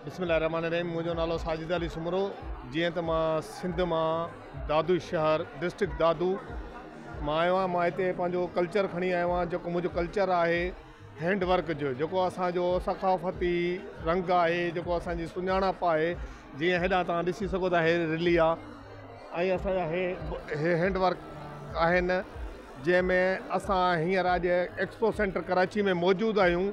بسم الله الرحمٰن الرحيم منهنجو نالو ساجد علي سومرو جيئن ته مان سنڌ مان دادو شهر ڊسٽرڪٽ دادو مان آيو آهيان مان هتي پنهنجو ڪلچر کڻي آيو آهيان جيڪو منهنجو ڪلچر آهي هينڊ ورڪ جو جيڪو اسانجو ثقافتي رنگ آهي جيڪو اسانجي سڃاڻپ آهي جيئن هيڏانهن تان ڏسي سگهو ٿا هي رلي آ ۽ اسانجا هي هي هينڊ ورڪ آهن جنهن ۾ اسان هينئر اڄ ايڪسپو سينٽر ڪراچي ۾ موجود آهيون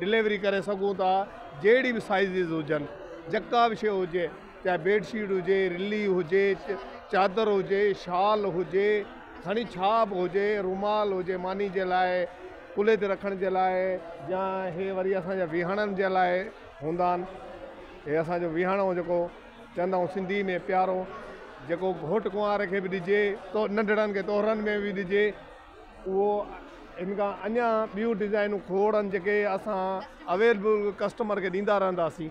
ڊليوري ڪري سگهون ٿا جهڙي به سائيزز هجن جڪا به شي هجي چاهي بيڊ شيٽ هجي رلي هجي چادر هجي شال هجي کڻي ڇا به هجي رومال هجي ماني جي لاء ڪلهي تي رکڻ جي لاء يا هي وري اسان جا ويهاڻن جي لاء هوندا آهن هي اسان جو ويهاڻو جيڪو چوندا آهيون سنڌي ۾ پيارو جيڪو گهوٽ ڪنوار کي به ڏجي تو ننڍڙن کي تورن ۾ به ڏجي اهو ان کان اڃا ٻيون ڊزائنون کوڙن جيڪي اسان اويلبل ڪسٽمر کي ڏيندا رهنداسين.